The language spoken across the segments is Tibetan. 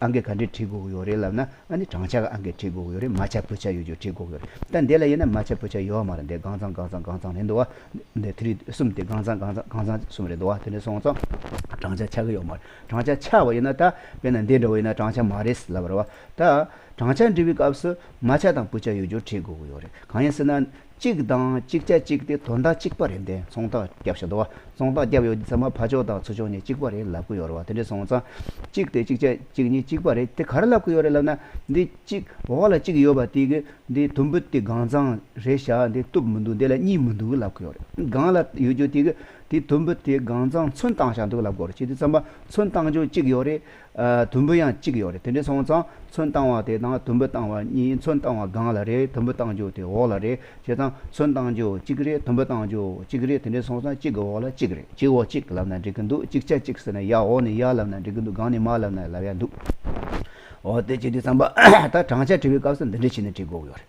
ཨང་ཀི་ག་འདྲས་བྲིས་དགོས་ཀྱི་ཡོད་རེད་ལབ་ན་ཨ་ནི་བགྲང་བྱ་ག་ཨང་ཀི་བྲིས་དགོས་ཀྱི་ཡོད་རེད་མ་བྱ་བུ་བྱ་ཡོད་ཅིག་བྲིས་དགོས་ཀྱི་ཡོད་རེད་ད་འདི་ལ་ཡིན་ན་མ་བྱ་བུ་བྱ་ཡོད་མ་རེད་འདི་དགང་ཚང་དགང་ཚང་དགང་ཚང་རེད་འདུག་བ། འདི་ཐི་རི་གསུམ་དེ་དགང་ཚང་དགང་ཚང་དགང་ཚང་གསུམ་རེད་འདུག་བ་དེ་འདྲས་སོང་ཙང། བགྲང་བྱ་ཆགས་ཀྱི་ཡོད་མ་རེད་བགྲང་བྱ་ཆགས་བ་ཡིན་ན་ད་དཔེར་ན་འདི་འདྲ་བ་ཡིན་ན་བགྲང་བྱ་མ་རེད་ལབ་རེད་བ། ད་བགྲང་བྱ་འབྲི་བའི་སྐབས་སུ་མ་བྱ་དང་བུ་བྱ་ཡོད་ཅིག་བྲིས་དགོས་ཀྱི་ཡོད་རེད་གང་ཡིན་ཟེར་ན། གཅིག་དང་གཅིག་ཆ་གཅིག་སྟེ་དོ་ཟླ་གཅིག་པ་རེད་འདས་ཚོང་རྟགས་བརྒྱབ་ཤོག་དོ་བ་ཚོང་རྟགས་བརྒྱབ་ཡོད་ཚེ་ཚང་མ་ཕ་ཕྱོགས་དང་ཚུར་ཕྱོགས་གཉིས་གཅིག་པ་རེད་ལབ་གི་ཡོད་རེད་བ་དེ་འདྲའི་ཚོང་རྟགས་གཅིག་སྟེ་གཅིག་ཆ་གཅིག་གཉིས་གཅིག་པ་རེད་དེ་ག་རེ་ལབ་གི་ཡོད་རེད་ལབ་ན་འདི་གཅིག་འོག་ལ་གཅིག་ཡོད་པ་དེ་གི་འདི་དུམ་བུ་དེ་གང་ཚང་རེད་བཞག་འདི་གཏུབ་མི་འདུག་འདི་ལ་གཉིས་མི་འདུག་གི་ལབ་གི་ཡོད་རེད་གང་ལ་ཡོད་རྒྱུ་དེ་གི་དེ་དུམ་བུ་དེ་གང་ཚང་ཚོན་བཏང་བཞག་འདུག་ལབ་དགོས་རེད་ཁྱེད་ཚོས་ཚང་མ་ཚོན་བཏང་རྒྱུ་གཅིག་ཡོད་རེད། དུམ་བུ་ཡང་གཅིག་ཡོད་རེད་དེ་འདྲའི་སོང་ཙང་མཚོན་བཏང་བ་དེ་དང་དུམ་བུ་བཏང་བ་གཉིས་མཚོན་བཏང་བ་སྒང་ལ་རེད་དུམ་བུ་བཏང་རྒྱུ་དེ་འོག་ལ་རེད་བྱས་ཙང་མཚོན་བཏང་རྒྱུ་གཅིག་རེད་དུམ་བུ་བཏང་རྒྱུ་གཅིག་རེད་དེ་འདྲའི་སོང་ཙང་གཅིག་གི་འོག་ལ་གཅིག་རེད་གཅིག་འོག་གཅིག་ལབ་ན་འགྲིག་གི་འདུག་གཅིག་ཆ་གཅིག་ཟེར་ན་ཡ་འོག་ནས་ཡར་ལབ་ན་འགྲིག་གི་འདུག་སྒང་ནས་མར་ལབ་ན་ལབ་ཡ་འདུག་འོ་དེ་བྱས་དུས་ཙང་པ་ད་བགྲང་བྱ་བྲི་བའི་སྐབས་སུ་འདི་འདྲ་བྱས་ནས་བྲི་དགོས་ཀྱི་ཡོད་རེད།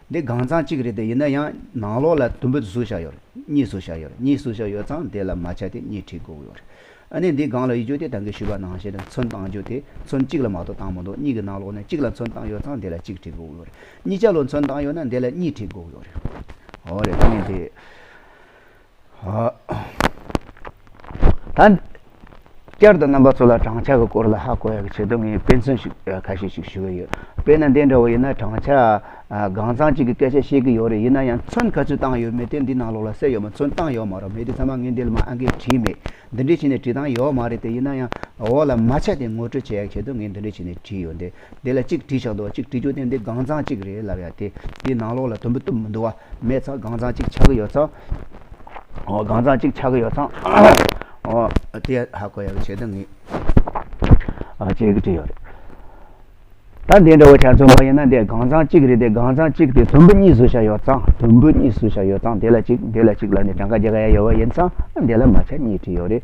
འདི་གང་ཚང་གཅིག་རེད་དེ་ཡིན་ན་ཡང་ནང་ལོགས་ལ་དུམ་བུ་ཟུར་བཞག་ཡོད་རེད་གཉིས་ཟུར་བཞག་ཡོད་རེད་གཉིས་ཟུར་བཞག་ཡོད་ཙང་དེ་ལ་མ་ཆ་དེ་གཉིས་ཁྲིད་དགོས་ཡོད་རེད་ཨ་ནི་འདི་སྒང་ལ་ཡིག་རྒྱུགས་དེ་ད་གིན་ཞུས་པ་ནང་བཞིན་ཚོན་བཏང་རྒྱུ་དེ་ཚོན་གཅིག་ལ་མ་གཏོགས་བཏང་མི་འདུག་གཉིས་ཀྱི་ནང་ལོགས་ནས་གཅིག་ལ་ཚོན་བཏང་ཡོད་ཙང་དེ་ལ་གཅིག་ཁྲིད་དགོས་ཡོད་རེད་གཉིས་ཆ་ལོ་ཚོན་བཏང་ཡོད་ན་དེ་ལ་གཉིས་ཁྲིད་དགོས་ཡོད་རེད་འོ་རེད་གཉིས་དེ། ད་བསྐྱར་དུ་རྣམ་པ་ཚོ་ལ་བགྲང་བྱ་གི་སྐོར་ལ་ཧ་གོ་ཡག་གི་ཆེད་དུ་ངས་དཔེ་མཚོན་ཞིག་ཁ་ཤས་ཤིག་ཞུ་གི་ཡོད་དཔེ་ན་འདི་འདྲ་བོ་ཡིན་ན་བགྲང་བྱ་གང་ཚང་གཅིག་གི་སྐད་ཆ་བཤད་གི་ཡོད་རེད་ཡིན་ན་ཡང་མཚོན་ག་ཚོད་བཏང་ཡོད་མེད་དེ་འདི་ནང་ལོགས་ལ་གསལ་ཡོད་མ་མཚོན་བཏང་ཡོད་མ་རོ་མེད་དེ་ཚང་མ་ངས་འདི་ལ་མ་ཨང་ཀིས་བྲིས་མེད་འདི་འདྲའི་ཆེད་ནས་བྲིས་བཏང་ཡོད་མ་རེད་དེ་ཡིན་ན་ཡང་འོག་ལ་མ་ཆ་དེ་ངོ་སྤྲོད་བྱེད་ཡག་གི་ཆེད་དུ་ངས་འདི་འདྲའི་ཆེད་ནས་བྲིས་ཡོད་འདི། དེ་ལ་གཅིག་བྲིས་ཆགས་འདུག་གཅིག་བྲིས་རྒྱུ་དེ་འདི་སྒང་ཚང་གཅིག་རེད་ལབ་ཡ་དེ་འདི་ནང་ལོགས་ལ་དུམ་བུ་གཏུབ་མི་འདུག་བ་མེད་ཚང་སྒང་ཚང་གཅིག་ཆགས་ཀྱི་ཡོད་ཚང་འོ་སྒང་ཚང་གཅིག་ཆགས་ཀྱི་ཡོད་ཚང་འོ་དེ་ཡ་ཧ་གོ་ཡ་གི་བྱེད་དོན་ངེས་ཨ་ཅེ་གི་བྲིས་ཡོད་རེད་ད་འདི་འདྲ་བོ་ཆ་མཚོན་པ་ཡིན་ན་འདི་སྒང་ཚང་གཅིག་རེད་དེ་སྒང་ཚང་གཅིག་དེ་དུམ་བུ་གཉིས་བཟོ་ཆགས་ཡོད་ཚང་དུམ་བུ་གཉིས་བཟོ་ཆགས་ཡོད་ཚང་དེ་ལ་གཅིག་འདི་ལ་གཅིག་ལ་འདི་གྲངས་ཀ་བརྒྱད་ཀ་ཡ་ཡོད་བ་ཡིན་ཚང་འདི་ལ་མ་ཆ་གཉིས་བྲིས་ཡོད་རེད།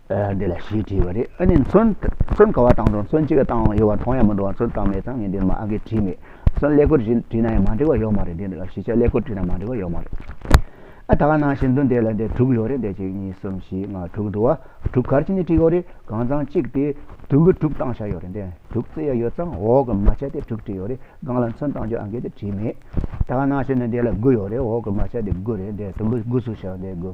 འདི་ལ་ཞེས་བྲིས་པ་རེད་ཨ་ནི་མཚོན་མཚོན་ག་བ་བཏང་འགྲོ་མཚོན་ཅི་ག་བཏང་ཡོད་བ་མཐོང་ཡ་མི་འདུག་བ་མཚོན་བཏང་མེད་ཙང་ངས་འདིར་མ་ཨ་ཁས་བྲིས་མེད་སོན་ཀླད་ཀོར་བྲིས་བྲིས་ན་ཡང་མ་འགྲིག་བ་ཡོད་མ་རེད་འདི་ལ་ཞེས་བྱ་ཀླད་ཀོར་བྲིས་ན་མ་འགྲིག་བ་ཡོད་མ་རེད་ཨ་ད་ག་ནང་བཞིན་དུ་འདི་ལ་འདི་དྲུག་ཡོད་རེད་འདི་གཅིག་གཉིས་གསུམ་བཞི་ལྔ་དྲུག་འདུག་བ་དྲུག་གར་ཅི་ནས་བྲིས་ཡོད་རེད་གང་ཙང་གཅིག་དེ་དུམ་བུ་དྲུག་བཏང་བཞག་ཡོད་རེད་འདི་དྲུག་བརྩི་ཡ་ཡོད་ཙང་འོག་གི་མ་ཆ་དེ་དྲུག་བྲིས་ཡོད་རེད་སྒང་ལ་མཚོན་བཏང་རྒྱུ་ཨ་ཁས་དེ་བྲིས་མེད་ད་ག་ནང་བཞིན་དུ་འདི་ལ་དགུ་ཡོད་རེད་འོག་གི་མ་ཆ་དེ་དགུ་རེད་འདི་དུམ་བུ་དགུ་བཟོ་བཞག་འདི་དགུ།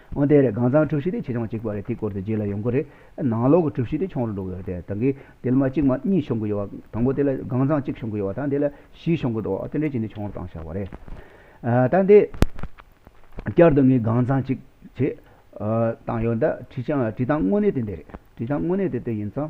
འོན་ཏེ་རེད་གང་ཚང་གྲུབ་གཞི་དེ་ཆེ་ཆུང་གཅིག་པ་རེད་དེའི་སྐོར་དུ་རྗེས་ལ་ཡོང་གི་རེད། ནང་ལོག་གི་གྲུབ་གཞི་དེ་ཆུང་རུ་འགྲོ་གི་རེད་དེ། ད་གི་དེ་ལ་མ་གཅིག་མ་གཉིས་བྱུང་གི་ཡོད་བ། དང་པོ་དེ་ལ་གང་ཚང་གཅིག་བྱུང་གི་ཡོད་བ་དང་དེ་ལ་བཞི་བྱུང་གི་འགྲོ་བ། དེ་འདྲའི་ཆེ་འདི་ཆུང་རུ་བཏང་བཞག་པ་རེད། ད་འདི་བསྐྱར་དུ་ངས་གང་ཚང་གཅིག་བྱེད། བཏང་ཡོད་ད་བྲིས་བྱང་དངོས་གནས་དེ་འདི་རེད། བྲིས་བྱང་དངོས་གནས་དེ་དེ་ཡིན་ཙང།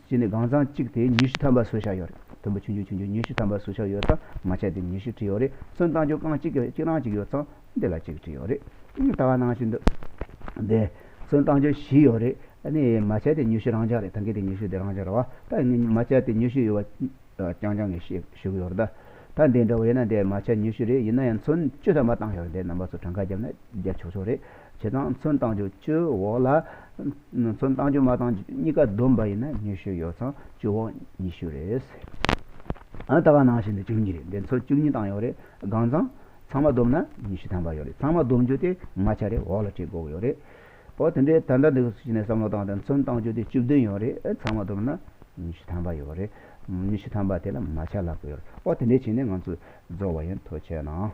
གཅིག་ནི་གང་ཚང་གཅིག་དེ་ཉུས་ཤུ་ཐམ་པ་སུ་ཤ་ཡོད་རེད་དུམ་བུ་ཆུང་ཆུང་ཆུང་ཆུང་ཉུས་ཤུ་ཐམ་པ་སུ་ཤ་ཡོད་ཚང་མ་ཆད་དེ་ཉུས་ཤུ་གྲི་ཡོད་རེད་སོན་བཏང་རྒྱུ་རྐང་གཅིག་གཅིག་རང་གཅིག་ཡོད་ཚང་འདི་ལ་གཅིག་གྲི་ཡོད་རེད་ལྟ་བ་གནང་བཞིན་འདུག་དེ་སོན་བཏང་རྒྱུ་བཞི་ཡོད་རེད་ནི་མ་ཆད་དེ་ཉུས་ཤུ་རང་ཅག་རེད་ད་གི་དེ་ཉུས་ཤུ་དེ་རང་ཅག་རེད་བ་ད་མ་ཆད་དེ་ཉུས་ཤུ་ཡོད་བ་རྐྱང་རྐྱང་གི་ཞུ་གི་ཡོད་རེད་ད་ད་འདི་འདྲ་བ་ཡིན་ན་དེ་མ་ཆད་ཉུས་ཤུ་རེད་ཡིན་ན་ཡང་ཚོན་བཅུ་ཐམ་པ་བཏང་ཞོར་དེ་རྣམ་པ་ཚོ་གྲངས་ཀ་བརྒྱབ་ན་བརྒྱབ་ཆོག་ཆོག་རེད་བྱེད་སྟངས་མཚོན་སྟངས་བཅུ་བཅུའི་འོག་ལ། མཚོན་སྟངས་བཅུ་མ་སྟངས་གཉིས་ཀ་བསྡོམས་པ་ཡིན་ན་ཉི་ཤུ་ཡོད་ཙང་བཅུ་འོག་ཉི་ཤུ་རེད། ཨ་ད་ག་ནང་བཞིན་དུ་བཅུ་གཉིས་རེད་འདི་མཚོན་བཅུ་གཉིས་སྟངས་ཡོད་རེད་གང་ཙང། ཚང་མ་བསྡོམས་ན་ཉི་ཤུ་ཐམ་པ་ཡོད་རེད་ཚང་མ་བསྡོམས་རྒྱུ་དེ་ལྔ་ཆ་རེད་འོག་ལ་གྲི་གུག་ཡོད་རེད། ཨོ་དེ་འདྲའི་ད་ལྟ་འདི་གཞི་ནས་བསམ་བློ་བཏང་སྟེ་མཚོན་སྟངས་བཅུ་དེ་བཅུ་བདུན་ཡོད་རེད་ཚང་མ་བསྡོམས་ན་ཉི་ཤུ་ཐམ་པ་ཡོད་རེད། ཉི་ཤུ་ཐམ་པ་དེ་ལ་མ་ཆ་ལག་པོ་ཡོད་རེད་ཨོ་དེ་འདྲའི་བྱས་ནས་ང་ཚོས་རྫོགས་བ་ཡིན་ཐོ་ཆད་ན།